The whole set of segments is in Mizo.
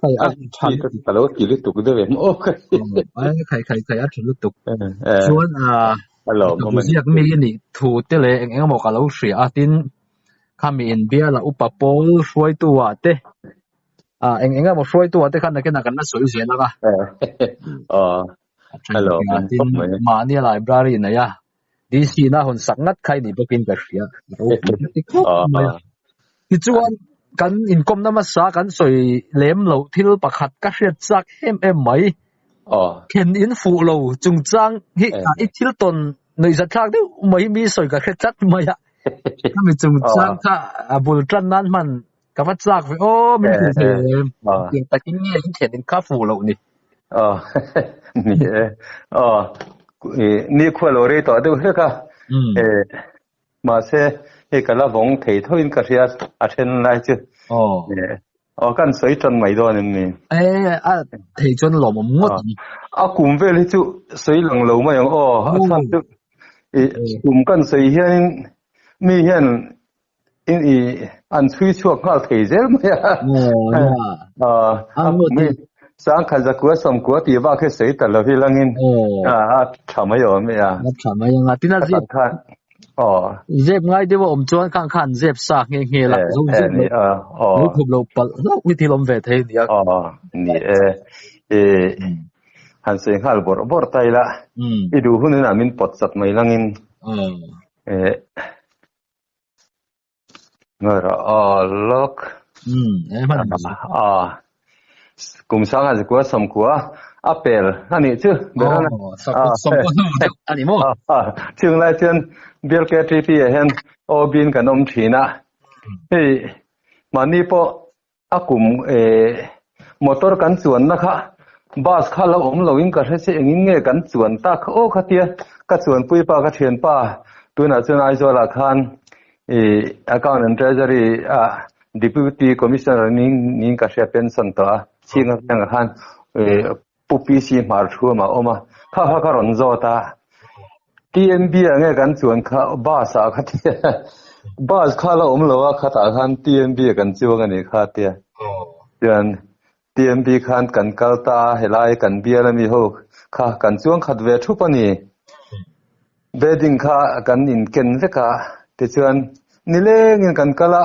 Khai a than ka ka lo ti lutuk deuh em aw khai ai khai khai khai a than lutuk chuan a hello ka bu ziak mi ni thu te leh eng eng maw ka lo hria a tin kha mi in biala upa pawl hruai tu a te a eng eng maw hruai tu a te khan nakena kan la sawi zel anga aw hello tin mahni library nei a Tihsihna hun sak ngat kha i nih bawkin ka hria. Tichuan kan inkom na masa kan sawi lem lo thil pakhat ka hriat chak em em mai. Khen in fuh lo chungchang hi i thil tawn nuihzat thlak deuh mai mi sawi ka hre tlat mai a. Ka mi chungchang kha a bul tan nan hman ka va chak ve o min ti ve em tin takin nge in thian in ka fu lo ni a ni e a e ni khuwa lo rei to de he ka e ma se e ka la vong thei tho in ka ria a then lai chu o e o kan soi ton mai do nen ni e a thei chon lo mom ngot ni a kum ve le chu soi lang lo mai ang o a chan chu e kum kan soi hian mi hian in i an chhui chhuak nghal thei zel mai a a sang khan zakua samkua ti va khe sei ta lo hi langin a a tha mai awm e a a tha mai anga tina zep khan aw zep ngai dewa om chuan khan khan zep sa nge nge la zo zo ni a aw lo khum lo pal lo ni ti lom ve thei ni a aw ni e e han sei nghal bor bor tai la i du hun in amin pot sat mai langin e Ngara alak. Hmm, e man ni. Ah. Kum sang a zikua som kua. A pel ani chu. Bera na. Oh, sa kut som kua nu chu ani mo. Ah, chung lai chun bial ke tri pi a hen. O bin kan om thina. Hei, mani po a kum e motor kan chuan na kha bus kha lo awm lo in ka hre che engin nge kan chuan ta kha aw khatia ka chuan pui pa ka thian pa tunah chuan aizawl ah khan i account and treasury a deputy commissioner ning ning ka hria pension tawh a chhing a khan e Pu PC hmarthuam a awm a, kha kha ka rawn zawt a, TMB ah nge kan chuan kha bus ah kha tia bus kha la awm lo a khatah khan TMB ah kan chuang a ni kha tia chuan TMB khan kan kal ta a helai kan bial a mi ho kha kan chuang khat ve thup a ni bedding kha kan inken vek a tichuan nilengin kan kal a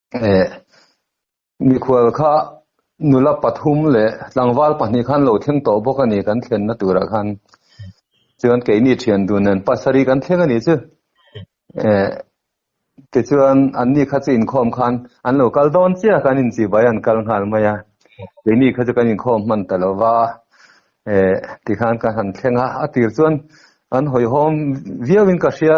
Eh, mikhual kha nula pathum leh tlangval pahnih khan lo thleng tawh bawk a ni kan thlenna turah khan. Chuan keini thian dun nen pasarih kan thleng a ni chu. Eh, tichuan anni kha chu inkhawm khan an lo kal dawn chiah kan inchi bai an kal nghal mai a. Keini kha chu kan inkhawm hman ta lo va. Eh, tikhan ka han thlenga a tir chuan an hawihawm viauin ka hria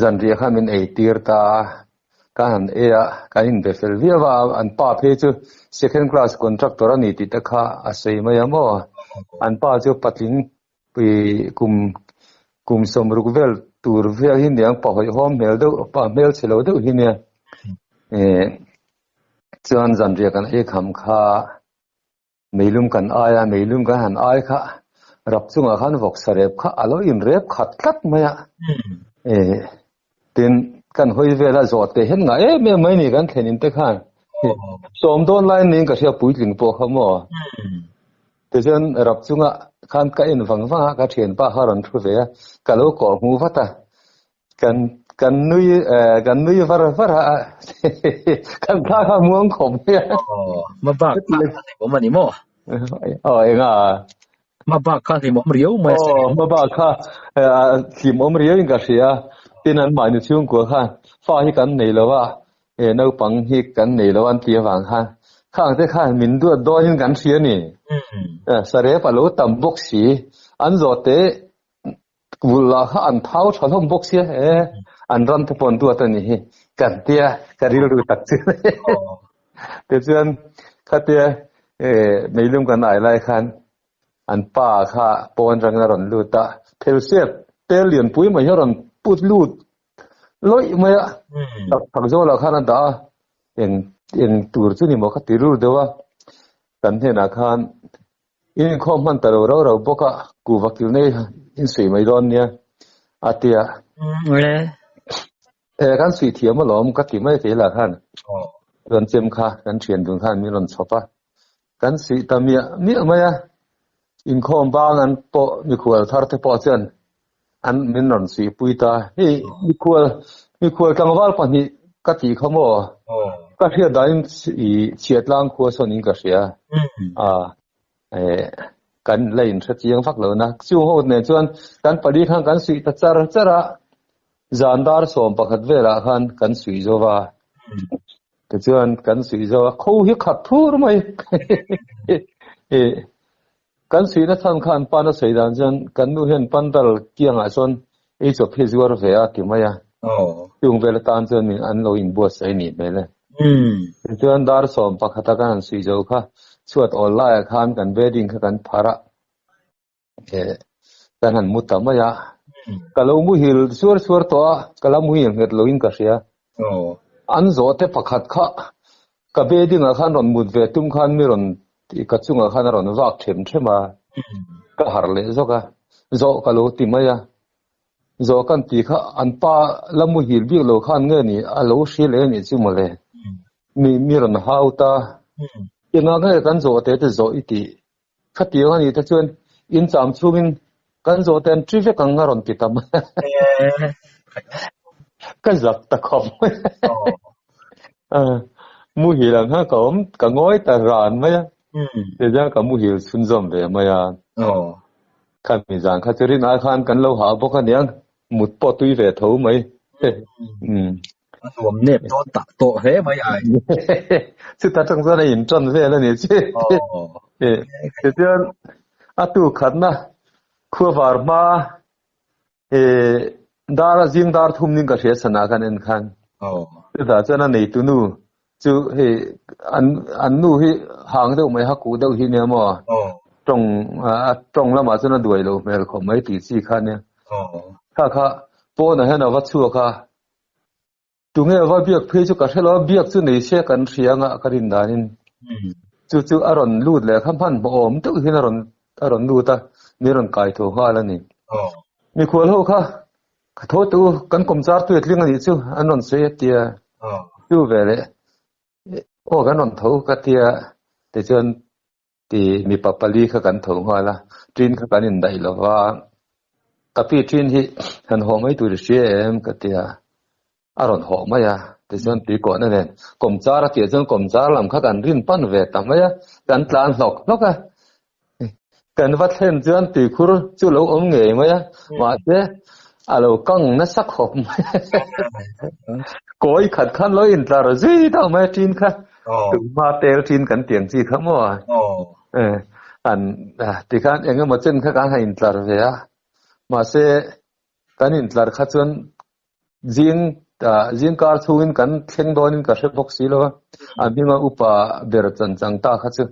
Zanriah kha min ei tir ta a, ka han ei a, kan inbe fel viau a, an pa phei chu second class contractor a ni tih te kha a sawi mai a maw, an pa chu patling ih kum kum sawm ruk vel tur viau hi niang pa hawi hawm hmel deuh pa hmelchhe lo deuh hi nia eh chuan zanriah kan ei kham kha. Meilum kan ai a, meilum kan han ai kha, rak chungah khan vawk sarep kha a lo inrep khat tlat mai a, eh, tin kan hawi vel a zawt teh hian ngah em em mai a ni kan thlenin te khan, sawm dawn lai niin ka hria puitling pawh kha maw, tichuan rap chungah khan ka en vang vang a, ka thianpa kha a rawn thu ve a, ka lo kawh hmu vat a, kan kan nui eh, kan nui var var a kan ta ka muang khom ya oh ma bak ta ni mo mani mo oh enga ma bak ka ni mom riau mai oh ma bak ka thim om riau in ka sia tin an mai ni chung ko khan fa hi kan nei lo wa e no pang hi kan nei lo an tia wang khan khang te khan min duat do hin kan sia ni sare pa lo tam bok si an zo te Vul lah kha an thau tha hlawm bawk sia e, an ram te pawh an duat a ni hi, kan tia ka rilru tak chu. Te chuan kha tia e meilum kan ai lai khan an pa kha pawn rang a rawn lut a, phelsiat tel lian pui mai hi a rawn put lut lawih mai a, tak tak zawk lah khan a dah a, eng eng tur chu ni maw kha ti rur deuh a, kan hnenah khan Eng khaw hman ta lo rau rau bawk a, ku vakil nei in suih mai dawn nia, a ti a. Re. E kan suih thiam a lawm ka ti mai thei la khan. Oh. Chuan chem kha kan thian dun khan min rawn chhawp a. Kan suih ta miah miah mai a. Inkhawm bang an pawh mikhual thar te pawh chuan An min rawn si pui ta, hei mikhual, mikhual tlangval pahnih ka tih kha maw? Ka hriat dahin i Chiatlang khua sawn in ka hria. A, e, kan la in hre chiang vak lo na. Chu ho nen chuan kan pali khan kan suih ta char char a. Zan dar sawm pakhat velah khan kan suih zo va. Tichuan kan suih zo a, kho hi khat thur mai. E, Kan suihna chhan kha an pan a sawi dan chuan kan nu hian pandal kiangah chuan eichawp hi zuar ve a ti mai a, chung vel atan chuan min an lo inbuatsaih nih hmel e. Tichuan dar sawm pakhat a kan han suih zo kha chhuat awl laiah khan kan bedding kha kan pharh a kan han mu ta mai a, ka lo muhil suar suar tawh a, ka la muhi ang nghet loin ka hria, an zawhte pakhat kha Ka be dingah khan rawn mut ve tum khan mi rawn ka chungah khan a rawn vak ṭhem ṭhem a, ka harh leh zawk a, Zawh ka lo ti mai a, Zawh kan tih kha an pa la mu hil bik lo khan nge ni a lo hrilh em i chu mawle, mi mi rawn hau ta, engah nge kan zawh te te zawh i tih? Khatiang a nih te chuan in cham chungin kan zawh ten tri vek ang a rawn ti tam. Ka zak ta khawp. Muhil ang ha ka awm ka ngawi ta ran mai a. Tichuan ka muhil chhunzawm ve mai a. Kha mizan kha chu rin ai khan kan lo hah bawk a nia mut pawh tui ve tho mai. a nuam nep dawn tak tawh hle mai ai chuta tang chuan a inṭawn vel a ni che ti chuan a tu khatna khuavar hma e dar a zing dar thum ding ka hria sana khan en khan chutah chuan a nei tunu chu hei an an nu hi hang deuh mai haku deuh hi nia maw tawng a tawng lamah chuan a duai lo hmel khawp mai tih chi kha nia kha kha pawnah hian a va chhuak a tunge va biak phei chu ka hrelo a biak chu nei se kan hrianga ka rin danin hmm. chu chu a rawn lut leh kha hman awm deuh hian a rawn a rawn lut a ni rawn kai tho nghal a ni oh. mi khual ho kha ka tho tu kan kom char tu tling a ni chu an rawn sei atia oh. chu ve le o oh, kan rawn tho ka tia te chuan ti mipa pali kha kan tho nghal a ṭin kha kan indaih lo va kapi ṭin hi han haw mai tur hria em ka ti a a rawn haw mai a tichuan tui kawhna nen kawm char atia chuan kawm char lam kha kan rin pan ve ta mai a kan tlan hlawk hlawk a kan va thlen chuan tui khur chu lo awm ngei mai a mahse a lo kang na sak hawp mai kawi khat khan lo intlar zui deuh mai a ṭin kha Tunghma tel chin kan tiang chi kha maw? An ti khan eng emaw chen kha kan han intlar ve a. Mahse kan intlar kha chuan zing zingkar chhungin kan thleng dawnin ka hre bawk si lo a. An hminga upa ber chan chang ta kha chu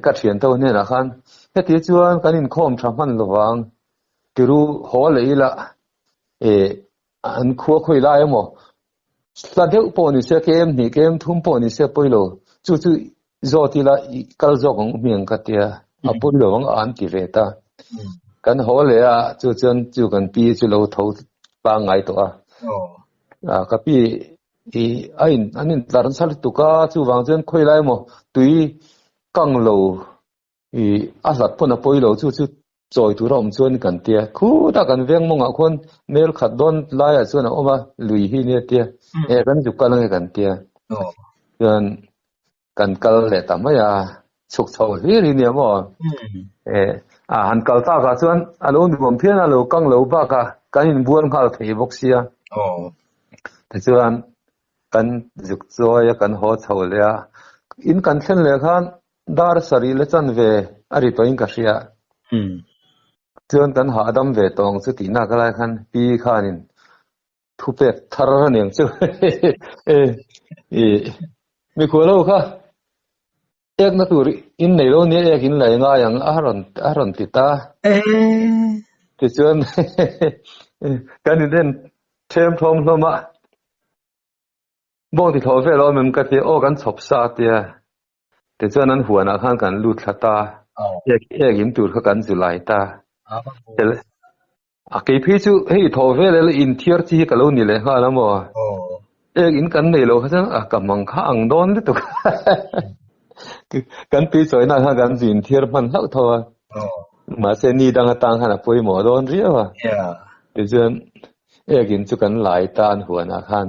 ka thianto hnenah khan heti chuan kan inkhawm tha hman lovang tiru haw leh ila An khua khawi lai emaw? Hla deuh pawh ni se, kem hnih, kem thum pawh ni se pawilo, chu chu zawt ila i kal zawk ang u mi ang ka tia, a pawilo ang an ti ve ta. Kan haw leh a, chu chuan chu kan pi chu lo tho tlang ngai tawh a. A ka pi i a in an in tlar nasa lutuk a, chuvang chuan khawi lai emaw, tui kang lo i a hlat pawn a pawi lo chu chu chawi tura awm chuan kan tia khut a kan veng mawngah khawn mail khat dawn laiah chuan a awm a lui hi nia tia hmm. e kan zuk kal nge kan tia oh. chuan kan kal leh ta mai a chhuk chho hlir hi nia maw hmm. e a han kal ta ka chuan a lo nuam phian a lo kang lo ba ka kan in bual nghal thei bawk sia oh. ti chuan kan zuk chawi a kan haw chho leh a in kan thlen leh khan Dar sarih la chan ve a ri tawhin ka hria. Chuan kan hahdam ve tawng chu tih nak lai khan Pi khanin thu pek thar a niang chu. I mikhua lo kha ekna tur in nei lo nia ekin la engai ang a rawn a rawn ti ta. Tichuan kan in en ṭhem ṭhawm hlawm a. Bawngti thlawh vel awm em ka ti a aw kan chhawp sa a tia. Tichuan an huanah khan kan lut thla ta, ek ek in tur kha kan zu lai ta. A keiphei chu hei i thawh vel ela inthiar chi hi ka lo ni leh nghal a maw? Ek in kan nei lo kha chuan a ka hmang kha ang dawn lutuk. Kan tui chawina khan kan zu inthiar hman hlauh tho a. Mahse ni dang atang khan a pawimawh dawn riau a. Tichuan ek in chu kan lai ta an huanah khan.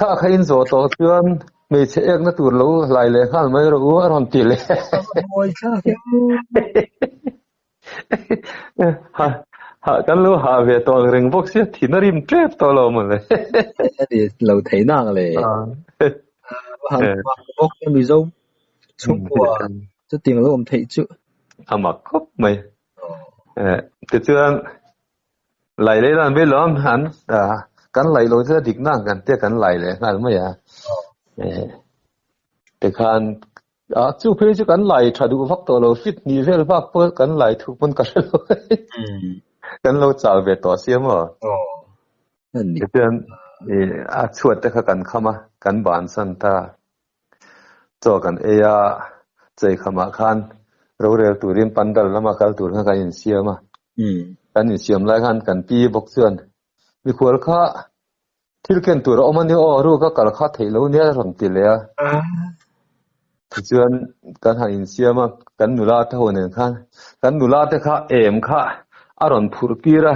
Kha kha in zawh tawh chuan hmeichhe ekna tur lo hlai leh nghal mai rawh u a rawn ti leh. Mawi thlangin. Ha ha kan lo ha ve tawh ang reng bawk sia thina rim tlep tawh lo maw le. A ni lo thei nak le. Han mak bawk a Mizo chhungkua chuting lo awm theih chu. A mak khawp mai. Tichuan lai leh dan ve lawm han ta kan lai lo zia dik nan kan te kan lai leh ngal mai a te khan a chu phei chu kan lai tha du vak to lo fit ni vel vak po kan lai thu pun ka hre lo kan lo chal ve to sia mo ni ten a chuat te kha kan khama kan ban san ta Chaw kan ei a, chei khamah khan rorel turin pandal lama kal tur khan kan insiam a. Kan insiam lai khan kan pi bawk chuan Mikhual kha thil ken tur a awm a ni aw, ru ka kal kha theih lo nia ka rawn ti leh a. Tichuan kan han insiam a, kan nula te ho nen khan kan nula te kha em kha a rawn phurh tir a.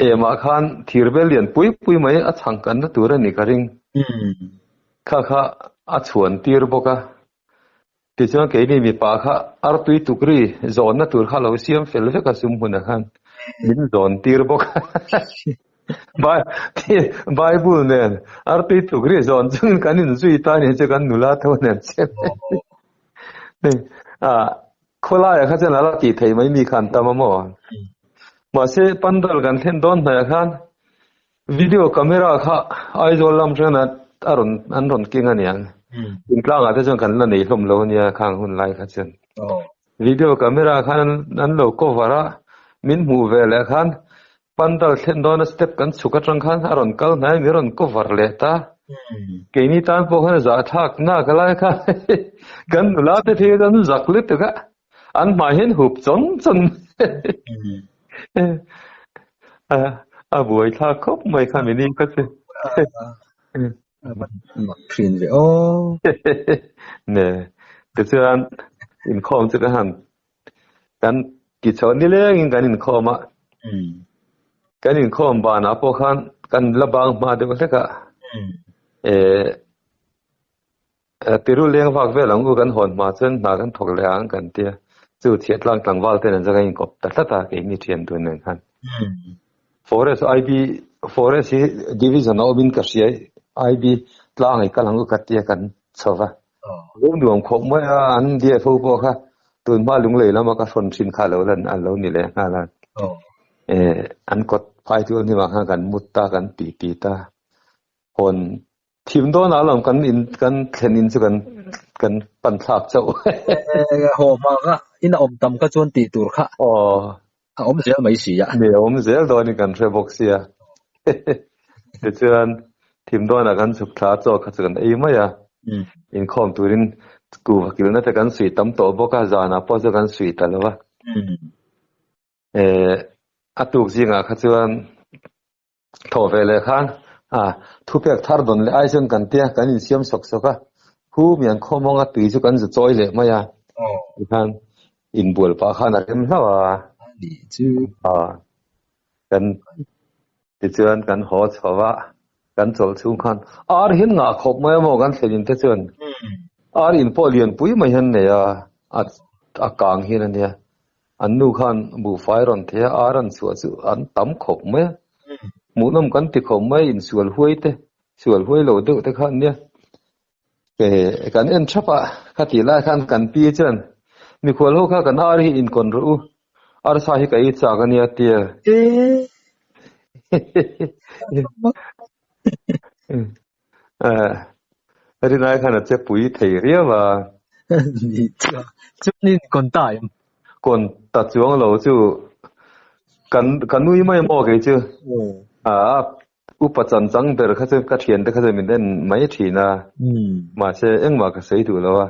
Emah khan thir bel lian pui pui mai a chhang kanna tur a ni ka ring. Thla kha a chhuantir bawk a, tichuan keini mipa kha artui tukri zawnna tur kha a lo siam fel vek a sum hunah khan min zawntir bawk a. Bible nen artui tukri zawn chungin kan inzui ta nen chu kan nula tho nen che mai. A khawlaiah kha chuan a la tih theih mai mi kha an tam a maw? Mahse Pandal kan thlen dawn hnaiah khan Video camera kha Aizawl lam atangin a rawn an rawn keng a nia. In tlangah te chuan kan la nei hlawm lo a nia khang hun lai kha chuan. Video camera khan an lo cover a, min hmuh ve leh khan pandal thlen dawna step kan chhuk atang khan a rawn kal hnai min rawn cover leh ta. Keini tan pawh khan zahthlak nakah lai kha kan nula te khi an zak lutuk a. An hmai hian hup chon chon. A buai thla khawp mai kha min in ka che. Mak thin ve o. Ne. Ti chuan in khawm chu ka han. Kan ki chho ni leng in kan in khawm a. Kan in khawm ban a pawh khan kan la bang hma deuh hlek a. E Piru leng vak vel ang u kan hawn hma chuan hna kan thawk leh ang kan ti a, chu thiahtlang tlangval ten an zak a inkawp ta tlat a keini thian tur nen khan. Forest IB forest hi division a awmin ka hria IB tlang i kal ang u ka ti a kan chho va. Lo nuam khawp mai a an dfo pawh kha tun hma lunglei lama ka hrawn thin kha lo lan alo ni leh nghal a. An kawt phai tu hnim ah khan kan mut ta kan tih ti ta hawn Thim dawnah a lang kan in kan thlen in chu kan kan pan thlak chauh. Ho ma ka in a awm tam ka chuan tih tur kha. Oh. A awm zel mai si a. Ni a awm zel dawn in kan hre bawk si a. Ti chuan thim dawnah kan chhuk thla chaw kha chu kan ei mai a. Inkhawm turin kuhva kilna te kan suih tam tawh bawk a, zanah pawh chu kan suih ta lo a. Eh, a tuk zingah kha chuan Thaw ve leh khan a thu pek thar dawn leh ai chuan kan tia kan in siam sawk sawk a, hu mian khaw mawng a tui chu kan za chawi leh mai a, ti khan in bual pah khan a rem hlauh a, ni chu a kan ti chuan kan haw chho va, kan chawlh chhung khan ar hian ngah khawp mai a maw kan thlen in te chuan ar in pawh lian pui mai hian nei a, a kang hian a nia. An nu khan buhfai rawn the a, a rawn chhuah chu an tam khawp mai a. Hmuhnawm kan ti khawp mai a, insual huai te, sual huai lo deuh te khan nia. Hei kan en thap a, khatih lai khan kan pi chuan, Mikhual ho kha kan ar hi inkawn rawh u, arsa hi ka i chak a nia, tia. He he he he. Rinai khan a che pui thei riau a. Ni chuan, chuanin kawn ta em? Kawn ta chuang lo chu, kan ka nui mai maw kei chu. A upa chancang ber kha chu ka thiante kha chu min en mai thin a, mahse engmah ka sawi duh lo a.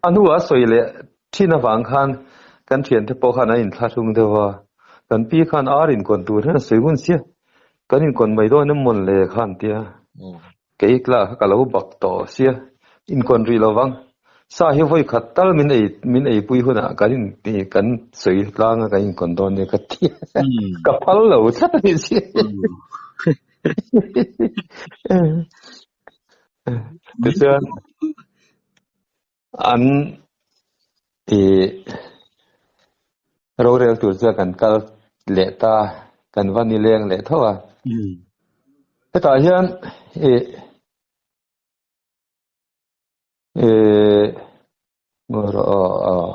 A hnua sawi leh thin avang khan kan thiante pawh khan an inthlahrung deuh a, kan pi khan ar in kawn tur hian a sawi hun sia. Kan inkawn mai dawn em mawn le kha an ti a. Kei tla kha ka lo bak tawh sia, inkawn rih lo vang. Sa hi vawi khat tal min ei min ei pui hunah kan in kan sawi tlang a kan inkawn dawn nia ka ti a. Ka phal lo tlat a ni si. Tichuan An ih rorel tur chuan kan kal leh ta, kan va ni leng leh tho a. Hetah hian ih ih ngaw rawh aw,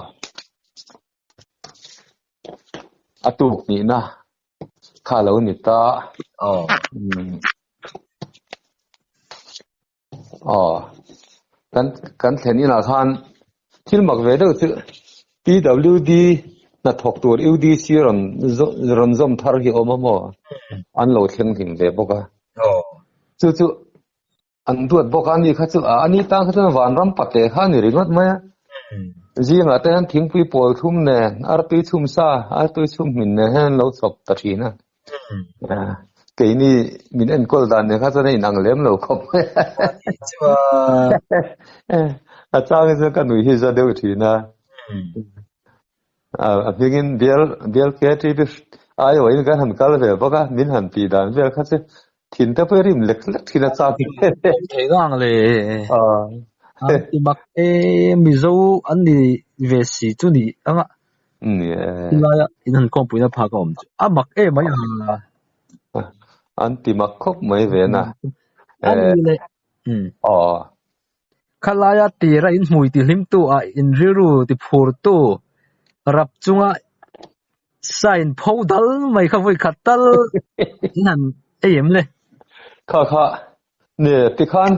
a tuk nihna kha a lo ni ta. Aw. aw kan kan thlen in ah khan thil mak ve deuh chu pwd hnathawk tur udc rawn rawn zawm thar hi awm a maw an lo thleng hlim ve bawk a chu chu an duat bawk a ni kha chu a ani tan kha chuan vanram pate kha ni ringawt mai a zingah te hian thingpui pawl thum nen artui chhum sa artui chhum hmin nen hian lo chhawp ta thin a keini min enkawl dan ni kha chuan a inang lem lo khawp mai a chang chu ka nui hi za deuh thin a a hmingin bial bial ke ti bi ai wain kan han kal ve bawk a min han pi dan vel kha chu thin te pawh rim lek lek thin a chang hi he he awm thei nghang le ah he an ti mak e mizo an ni ve si chu ni anga ni e tilai a in han kawngpui na phak a awm chu a mak e mai a an ti mak khawp mai ve na e le um aw khalaia tira in hmui tih hlim tu ah in rilru ti phur tu rap chunga sign pho dal mai kha vui khat tal in han ei em le kha kha ne ti khan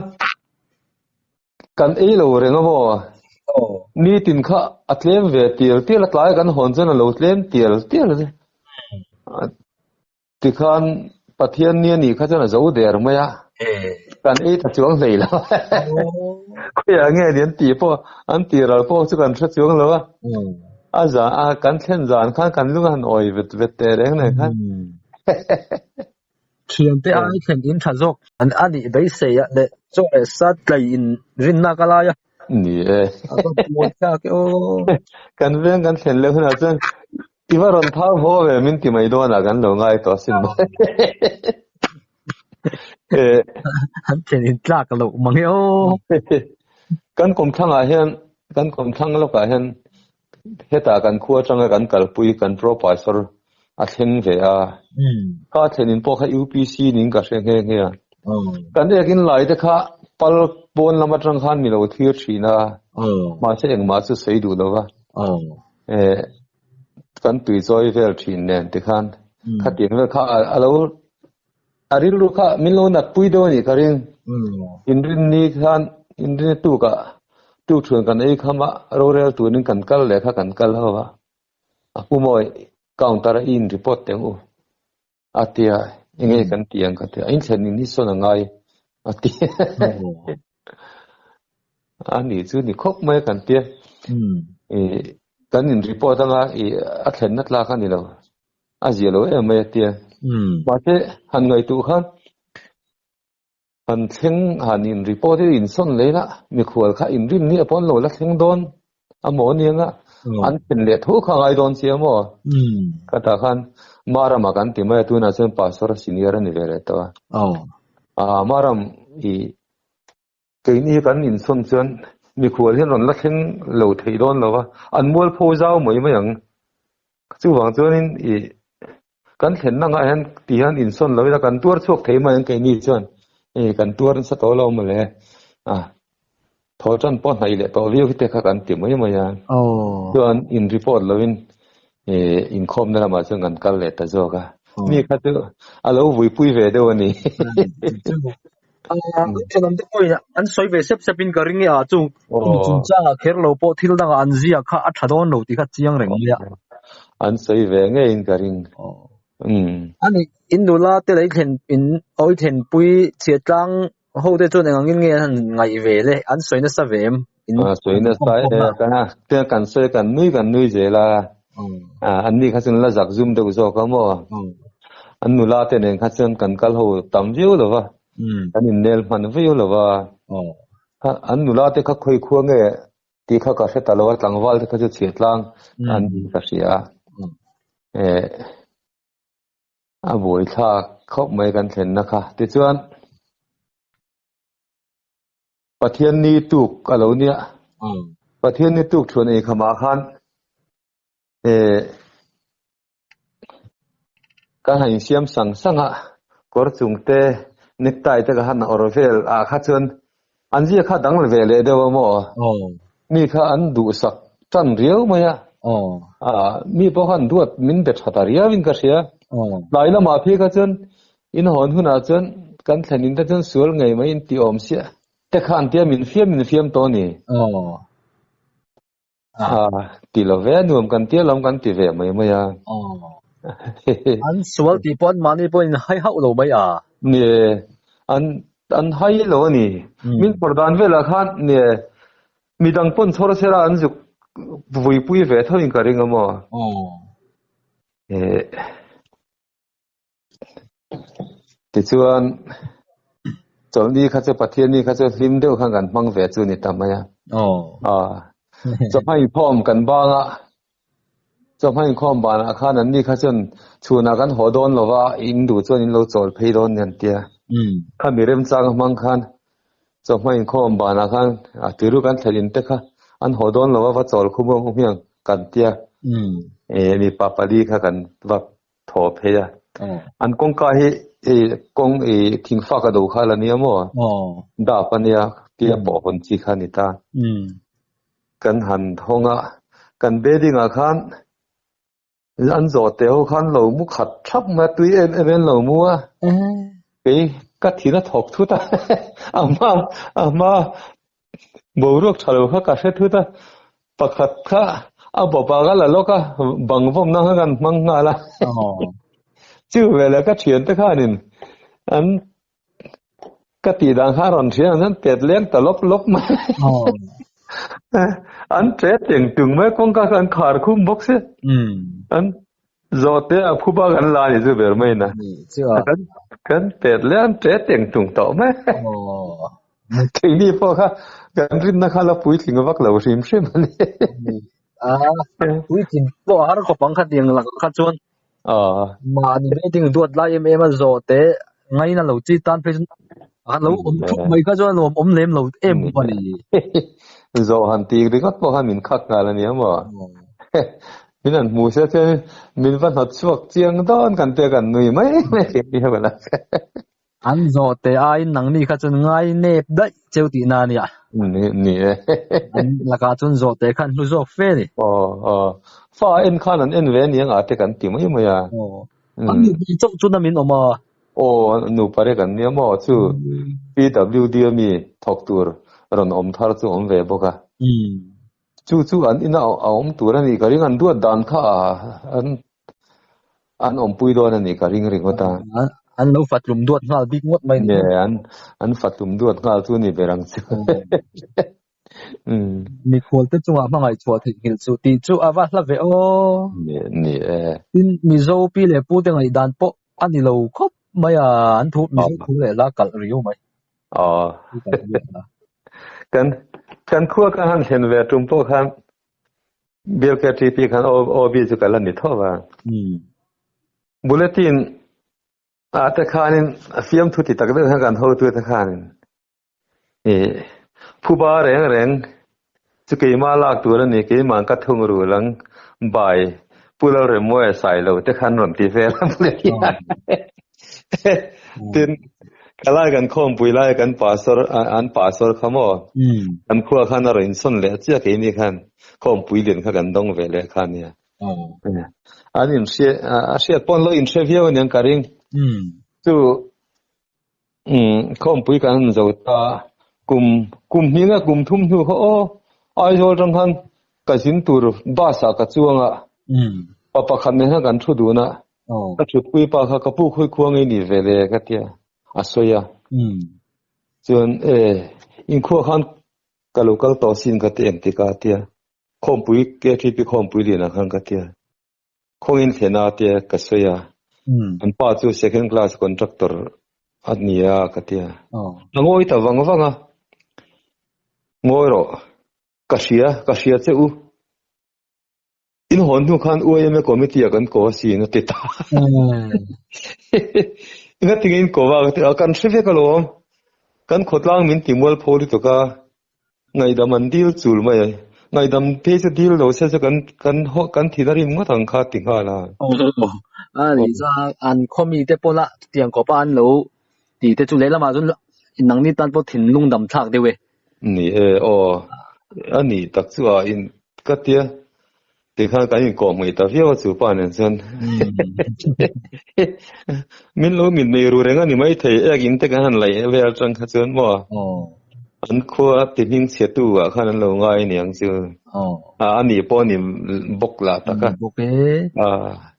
kan ei lo reng aw ni tin kha a tlem ve tir tir a tlai kan hawn chuan a lo tlem tir tir tikhan pathian nia ni kha chuan a zo der mai a kan ei tha chuang hlei lo khoi a nge ni an ti pawh an ti ral pawh chu kan hre chuang lo a a za a kan thlen zan khan kan lung han awi vet vet te reng nei khan thiam te ai thlen in tha zawk an ani beisei a le chaw le sat tlai in rin na ka lai a ni e kan veng kan thlen le huna chuan Tiva ron thau ho ve min ti mai dona kan lo ngai to sin ba. E han chen in tlak lo mangi o. Kan kom thang a hian kan kom thang lo ka hian heta kan khua changa kan kalpui kan professor a thleng ve a. Hmm. Ka thlen in po kha UPC ning ka hreng he he a. Hmm. Kan ek in lai te kha pal pon lama chang khan mi lo thir thina. Hmm. Ma se eng ma chu sei du lo va. Hmm. eh kan tui chawi vel thin nen ti khan hmm. kha tin kha alo aril ru kha min lo nat pui do ni karin hmm. inrin ni khan inrin tu ka tu thun kan ei khama ro rel tu nin kan kal le kha kan kal hawa apumoi counter in report teng u a tia enge hmm. kan ti ang ka tia in thlen in hi sawn a ngai a ti a ni chu ni khawp mai kan tia hmm. e kan in report anga e a thlen na tlak a ni lo a zia lo em mai a tia hmm. ma te han ngai tu khan An thleng han in report hi in sawn leh lah mikhual kha in rim ni a pawn lo la thleng dawn a maw niang a an thleng leh thu kha ngai dawn che maw ka ta khan maram a kan ti mai tu na chen pastor senior ani ve le to a maram i kei ni kan in sawn chen mikhual hi ron la thleng lo thei dawn lo a an mual pho zau mai mai ang chu wang chuan in i kan thlen na nga hian ti hian in sawn lo ila kan tuar chhuak thei mai ang keini chuan e kan tuar nasa tawh lo mawle a thaw tan pawh hnai leh tawh viau hi te kha kan ti mai mai a chuan in report lo in e in khawm na lamah chuan kan kal leh ta zawk a mi kha chu a lo vuipui ve deuh a ni ah an chalam te pawhin an sawi ve sep sep in ka ring e a chung chung chung chang ah kher lo pawh thil dang ah an ziak kha a tha dawn lo tih kha chiang reng mai a an sawi ve nge in ka ring ani in nula te lei thlen in awi thlen pui chhiat tlang ho te chuan eng ang in nge an han ngaih ve le an sawi nasa ve em ah suihna sai he ka na te kan se kan nui kan nui zela ah an ni kha chin la zak zum deuh zawk ka mo an nula te nen kha chin kan kal ho tam viu lo va kan in nel man viu lo va kha an nula te kha khoi khuwa nge ti kha ka hre ta lo tlangwal te kha chu chhiat tlang an ni ka hria e a buai thlak khop mai kan thlenna kha ti chuan Pathian ni tuk a lo nia. Hmm. Pathian ni tuk thuan ei khamah khan e ka hain siam sang sang a kor chung te necktie te ka han or vel a kha chuan an zia kha dang ve le deuh amo oh. mi kha an du sak tan riau mai a oh. a mi po khan duat min be tha ta riau in ka hria oh. lai lama phi ka chuan Inhawn hunah chuan kan thlenin te chuan sual ngei mai in ti awm sia. Te kha an tia min fiam min fiam tawh ni. Aw. Ah. Ti lo ve a nuam kan tia lawm kan ti ve mai mai a. Aw. An sual tih pawh anmahni pawh in hai hauh lo mai a. Ni e. An an hai lo a ni. Min phawrh dan velah khan ni e. Mi dang pawn chhawr sir a an zuk vuipui ve thawhin ka ring a maw. Aw. Eh. tichuan chawlhni kha chu pathianni kha chu hlim deuh khan kan hmang ve chu ni ta mai a oh a chawhmai khawm kan banga chawhmai khawm bana khan an ni kha chun chhuna kan haw dawn lova in du chuan in lo chawl phei dawn nian tia hmm. kha mi rem chang hmang khan chawhmai khawm bana khan a tiru kan thlen in te kha an haw dawn lova va chawl khum ang hiang kan tia hmm. e mi papali kha kan va thaw phei a an kawngka hi i kawng i thing faka do kha la nia maw dap a nia tia pawh hawn chi kha ni ta kan han hawng a kan bedding ah khan an zawh te ho khan lo mu khat thap mai tui em em en lo mu a kei ka thina thawk thut a ama ama boruak tha lo kha ka hre thut a, pakhat kha a bawpah ka la lawk a, bang vawmna kha kan hmang nghal a. Chu vela ka thiante khanin an ka tih dan kha a rawn thian an tet leng ta lawp lawp mai. an tet teng tung mai kawngka kha an khar khum bawk se. An Zawhte a phuba kan la ni chu ber main a. Ni chu a. Kan kan pet lian che teng tung tawh mai. Aww. Keini pawh kha kan rinna kha la puitling vak lo hrim hrim a ni. Ni a. Puitling pawh har khawp ang kha tiang lak kha chuan. Aww. Mahni beijing duat lai em em a zawhte ngaina lo chi tan phei chu. a lo om thup mai kha chuan nuam om lem lo em pa ni zo han ti ringot pawh han min khak ngal ani emaw min an mu se che min va hnat chuak chiang don kan te kan nui mai mai ke ni ha bala an zo te a in nang mi kha chun ngai nep dai cheu ti na nia ni ni e laka chun zo te khan hlu zok fe ni o o fa en khan an en ve ni anga te kan ti mai mai a Ani ni chok chu na min oma. O nu pare kan ni amo chu PWD mi thok tur ron om thar chu om ve boka. Chu chu an ina a om tur ani ka ring an duat dan kha a an an om pui don ani ka ring ring ota. An lo fatlum duat ngal bik ngot mai ni. An an fatlum duat ngal chu ni berang chu. mi khual te chunga hmangai chhuah thei nghil chu ti chu a va hla ve o ni ni e tin mi zo pi le pu te ngai dan po ani lo khop mai a an thu mi zo thu le la kal riu mai a kan kan khua ka han hlen ve tum po khan bial ka ti pi khan ob chu kala ni tho wa bulletin a te khanin fiam thu ti tak deuh han kan ho tu te khanin Phuba reng reng chu keima lak tur a ni, keima an ka thung rul ang, by Pu Lalremawia Sailo te khan rawn ti vel ang le hian. Tin, ka lai kan khawmpui lai a kan pastor, an pastor kha maw, kan khua khan a rawn insawn leh chiah keini khan, khawmpui lian kha kan dawng ve leh kha nia. An inhriat, a hriat pawn lo inhre viau aniang ka ring. Chu umm khawmpui kan han zo ta kum kum hnihna kum thum hnu kha aw Aizawl tang khan ka zin tur bus ah ka chuang a umm pa pakhat nen khan kan thu dun a aw ka thutpui pa kha ka pu khawi khua ngei ni ve le ka tia a sawi a umm chuan e in khua khan ka lo kal tawh sin ka ti em ti ka tia khawmpui KTP khawmpui leh na khan ka tia khawngin thlen a tia ka sawi a an pa chu second class contractor a ni a ka tia a ngawi ta vang vang a ngawi ro ka hria ka hria che u in hon nu khan uima committee a kan ko a si na ti ta nga tingin ko va ka kan hre vek a lo kan khotlang min ti mual pho ri to ka Ngaidam an dil chul mai. Ngaidam te chu dil lo se chu kan kan haw kan thina rim ngawt ang kha ti nghal a. A ni chuan a an khaw mi te pawh la chutiang kawpa an lo ti te chu lehlam ah chuan inang ni tan pawh thin lungdam thlak deuh e. Ni e aw a nih tak chu a in ka tia. Tikhan kan inkawh hmui ta viau a chu pa nen chuan min lo min mei ru reng a ni mai thei ek in te kan han laih ve atang kha chuan maw an khua ti hming chhe tu ah khan an lo ngai ni ang chu a ani pawh ni bawk la ta kha bawk e a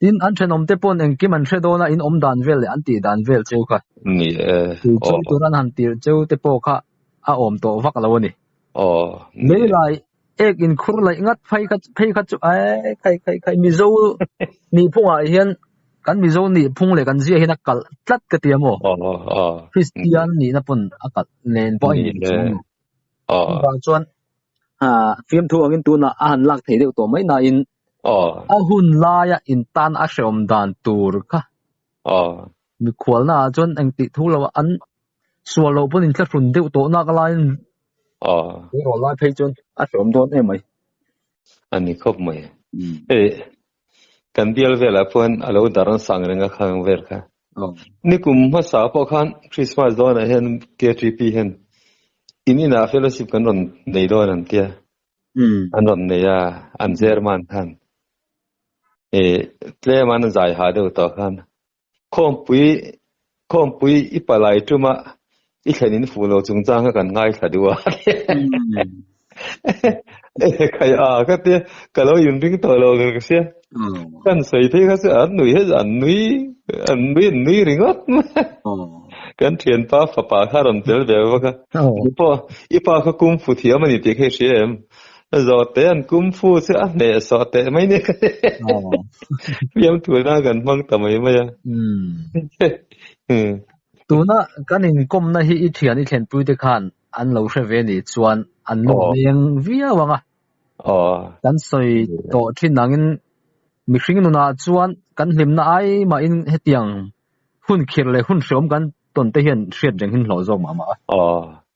tin an thenom te pawh eng kim an hre dona in om dan vel leh an ti dan vel chu kha ni e chu chu turan han tir cheu te pawh kha a awm tawh vak lo ani o lei lai ek in khur laih ngat phai kha phei kha chu ai khai khai khai mizo ni phungah hian kan mizo ni phung leh kan zia hian a kalh tlat ka ti emaw christian ni na pun a kalh nen bo ai ni chu ba chuan ha fiam thu angin tuna a han lak thei deuh to mai na in a hun laia in tan a hreawm dan tur kha mi khualna ah chuan engtih thu lo an Sual loh pawh in tla hrun deuh tawh nak lai in Eng rawh lai phei chuan a hlawm dawn em mai. A ni khawp mai. Hei kan bial velah pawhin a lo dar an sang reng a khang vel kha. Nikum hmasa pawh khan Christmas dawnah hian KTP hian in inah fellowship kan rawn nei dawn an tia. An rawn nei a, an German khan. Tlem an zai ha deuh tawh khan Khawmpui, Khawmpui i palai tuma i thlen in fuh lo chung chang kha kan ngai thla duh a. Khai a ka tia, ka lo in ring tawh lo ka sia. Kan sawi thei kha chu an nui hết, an nui, an nui, an nui ringawt mai. Kan thianpa fapa kha a rawn tel ve bawk a. I pa kha kung fu thiam a ni tih kha i hria em? Zawhte an kum fu chu a hne sawh teh mai nia ka hreh. Fiam tuna kan hmang ta mai mai a. Tuna kan inkawmna hi i thian i thlenpuite khan an lo hre ve nih chuan an nu veng viau ang a. Kan sawi tawh thin angin mihring nunah chuan kan hlimna ai mahin hetiang hun khirh leh hun hreawm kan tawn te hian hriat reng in hlawh zawk mah mah a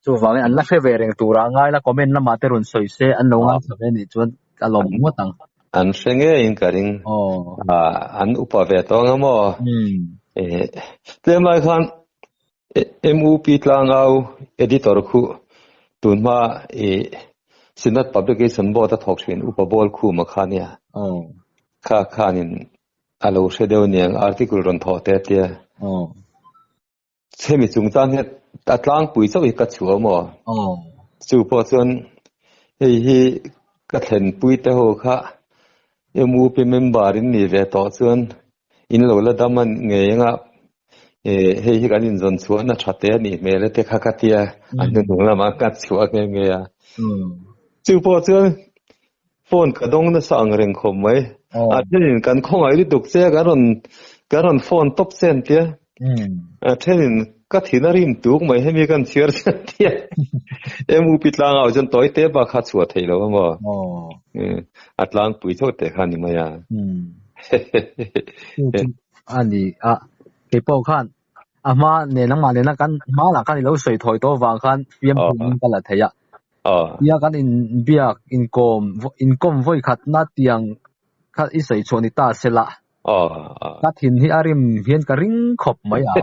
chu vangin an la hre ve reng tur a ngai la comment lamah te rawn sawi se an lo ngai thla ve a nih chuan ka lawm ngawt ang an hre ngei in ka ring an upa ve tawng emaw tlem lai khan MUP tlang au editor khu tun hma i Sinat Publication Board a thawk thin upa ball khu ma kha nia kha khanin A lo hre deuh niang article rawn thawh teh tia. Aw. Chemi chung tan hian a tlangpui chauh hi ka chhuah awm aw. Aw. Chu pawh chuan hei hi ka thlen pui te ho kha MUP member in ni ve tawh chuan in lo la dam a ngei ang a e hei hi kan inzawn chhuahna tha te a nih hmel e te kha ka tia a hnung lamah ka chhuah nghe nghe a. Chu pawh chuan Phone ka dawng nasa ang reng khawp mai. A thenin kan khawngaih lutuk che a, kan rawn kan rawn phone tawp che an tia. A thenin ka thin a rim tuk mai hemi kan chhiar che an tia. Em upi tlang au chuan tawi te bakha a chhuah theih lo a maw? A tlangpui chauh teh kha a ni mai a. He he he he. Ani a, kei pawh khan a hma nen ang mah nen ang kan hma lah kan i lo sawi thawi tawh vang khan fiam phun in ka la thei a tia kan in biak in kawm in kawm vawi khat na tiang kha i sawi chhuah ni ta se lah ka thin hi a rim hian ka ring khawp mai a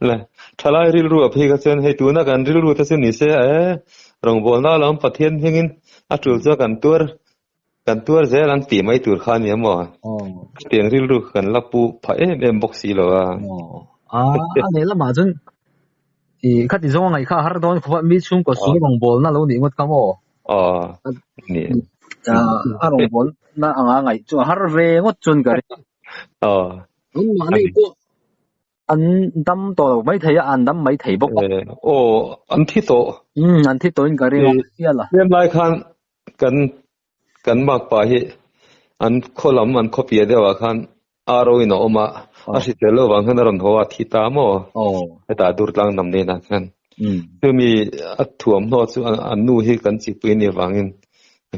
la thalai rilru a phei ka chen hei tuna kan rilru ta chu ni se e rawng bawlna lam pathian hmingin a tul chu kan tur Kan tuar zel an tih mai tur kha ni emaw? Ka tiang rilru ka kan la pu pha em em bawk si lo a. A a leh lamah chuan i kha ti zawng a ngaih kha har dawn khup a mi chhungkaw sung rawngbawlna lo nih ngawt ka maw? A ni. A rawngbawlna anga ngaih chu a har ve ngawt chuan ka ring. Anmah nei pawh an dam tawh lo mai thei a, an dam mai thei bawk a. Aw an thi tawh. An thi tawhin ka ring a. Hrial a. Hliam lai khan kan kan bakpa hi an khaw lam an khaw piah deuh ah khan aro in a awm a a hri tel lo vang khan a rawn haw a thi ta maw hetah dur tlang dam nen ah khan chumi a thuam hnawh chu an nu hi kan chih pui ni vang in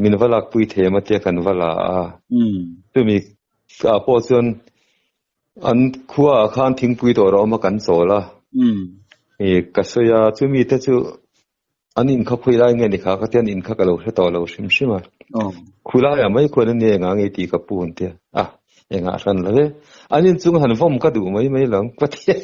min va lak pui thei ma tia kan va la a chumi a pawh chuan an khua ah khan thingpui dawr a awm a kan chawl a ka sawi a chumi te chu an in kha khawih lai nge ni kha ka tian in kha ka lo hre tawh lo hrim hrim a oh. khulai a mai khuan ni enga nge ti ka pu hun tia a ah, enga hran la ve an in chung han vom ka du mai mai lo ka tia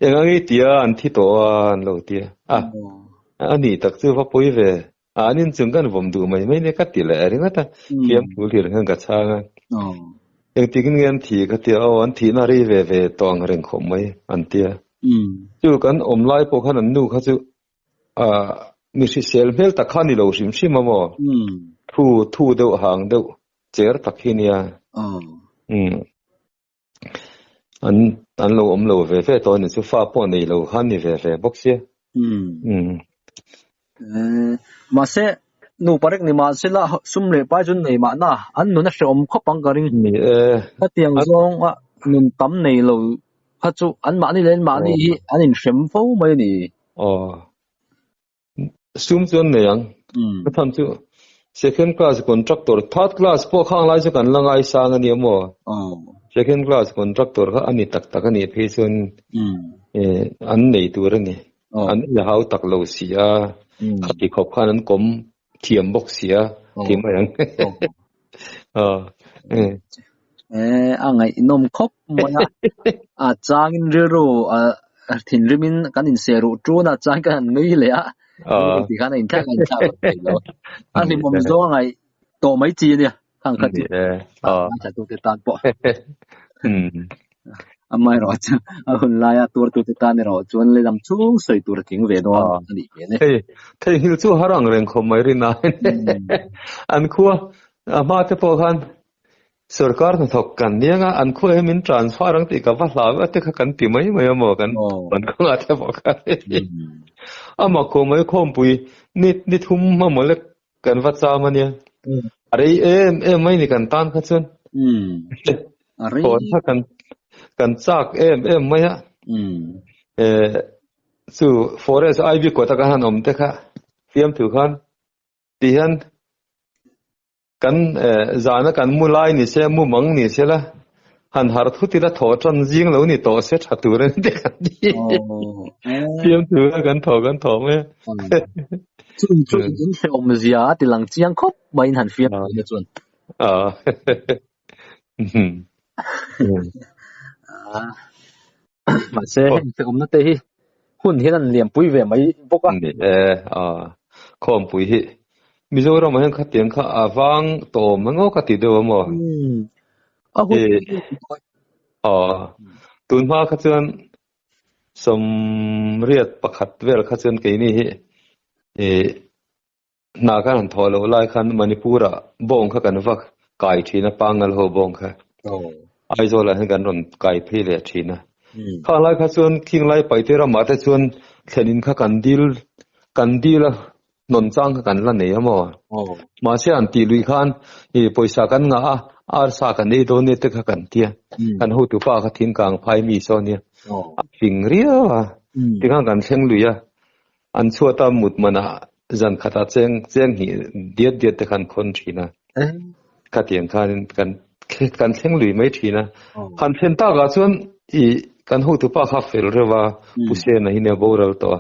enga nge tia an thi to an lo tia a ah, oh. ani tak chu va poi ve A an inchung khan vawm duh mai mai nia ka ti leh ringawt a, fiam phul tirah khan ka chhang a. Engtikin nge an thih ka tia, aw an thihna rei ve ve tawh ang reng khawp mai an tia. Chu kan awm lai pawh khan an nu kha chu mi hrisel hmel tak kha a ni lo hrim hrim a maw, thu thu deuh hang deuh cher tak hi nia. an an lo awm lo ve ve tawh a ni chu fa pawh nei lo khan ni ve ve bawk sia hmm. Hmm. Eh, mahse nu parek ni ma sila sum le pai chun nei ma na an nuna hre om khop ang ka ring ni e ka tiang zong a nun tam nei lo kha chu an mah ni len mah ni hi an in hrem fo mai ni oh sum chu an nei ang a tham chu second class contractor third class pawh kha anglai chu kan la ngai sang a nia maw second class contractor kha ani tak tak a ni phei chuan an nei tur a ni an la hau tak lo si a khati khawp khan an kawm thiam bawk si a ti mai ang a ngaihnawm khawp mai a a changin rilru a thinrimin kan inseruh tun a chuan ka han nui leh a tikhan a inthlak a inthlak vak thei lo a hlimawm zawng a ngai tawh mai chi ania thang khat chu a hmai thla tute tan pawh amaherawhchu a hun laia tur tute tan erawh chuan le lam chhung sawi tur a tling ve dawn a nih hmel e thei theihil chu har ang reng khawp mai rin a an khua a hma te pawh khan sarkar hnathawk kan niang a an khua hi min transfer ang tih ka va hlau a te kha kan ti mai mai amaw kan kan khanga te pawh kha ama khawmai khawmpui ni ni thum mamawh le kan va cham ania hmm. a rei em em mai ni kan tan kha chuan hmm. a rei phone kha kan kan chak em em mai a hmm. e chu forest ivy ko ta ka han om te kha fiam thu khan ti han kan zana kan mu lai ni se mu mang ni se la han har thu tila thaw tan zing lo ni tawh se tha tur an ti kan ti piam tu la kan thaw kan thaw me chu chu in se om zia ti lang chiang khop mai han fiam ni chun a a mahse hemi te awmna te hi hun hian an liampui ve mai bawk a ni e a khawmpui hi mizoram ah hian khatiang kha a vang tawm mai ngawk a ti deuh emaw hmm. a hun a tun hma kha chuan somriat pakhat vel kha chuan keini hi e Hna khan han thawh loh lai khan Manipur ah bawng kha kan va kai thin a pangal ho bawng kha. Aizawl ah hian kan rawn kai phei leh thin a. Khang lai kha chuan Khinglai Paite ram ah te chuan thlen in kha kan dil kan dil a hnawn chang kha kan la nei a maw. Mahse an tih luih khan i pawisa kan ngah a arsa kan ei dawn nia te kha kan ti a. Kan hotu pa kha thingkang phai mi saw nia a fing riau a tikhan kan thleng luih a. An chhuata mut mana zan khata cheng cheng hnih diat diat te khan khawn thin a. Ka tiang khan kan kan thleng lui mai thin a. Khan thlen tak a chuan i kan ho tu pa kha fel rewa puse na hine boral to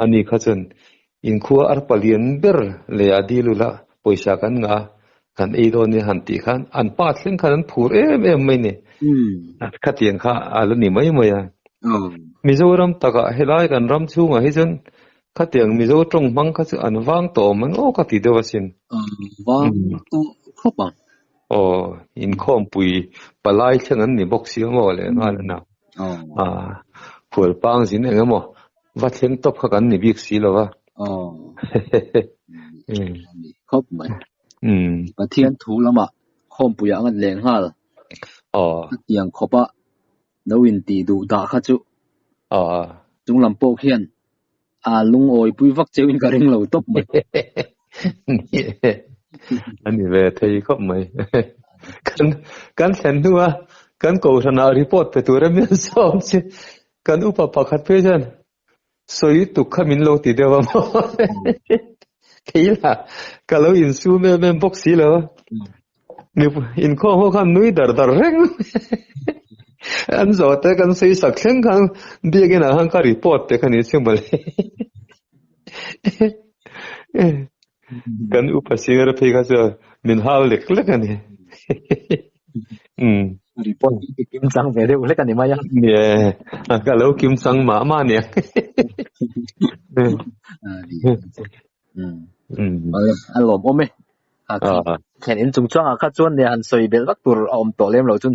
ani kha chuan in khua ar palian ber le a dilula poisa kan nga Kan ei dawn nia han tih khan an pa thleng khan an phur em em mai ni. Khatiang kha a la ni mai mai a. Mizoram takah helai kan ram chhungah hi chuan khatiang Mizo tawng hmang kha chu an vang tawh awm ang aw ka ti deuh asin. Vang tawh khawp ang. Aw inkhawmpui palai thleng an ni bawk si maw le nghal a na. Khualpang zin eng emaw va thleng tawp kha kan ni bik si lo va oh ni khop mai um pathian thu lama khom puya angat leng hal oh tiang khopa lo in ti du da kha chu oh chung lam po khian a lung oi pui vak cheu in ka ring lo top mai ani ve thei khop mai kan kan thlen hnu a kan ko thana report pe tur a mi som chi Kan upa pakhat phei chuan sawi tuk kha min lo ti deuh a maw thei la ka lo in su mem mem bawk si lo mi in khaw ho khan nui dar dar reng an zo te kan sei sak thleng khan biak in a khan ka report te kha ni che mawle kan upa singer phi kha chu min hal lek lek ani um report kim sang ve deuh lek ani mai a yeah ka lo kim sang ma ma ni um a lom om e a khen in chung changa kha chuan ne han sawi bel vak tur a awm tawh lem lo chun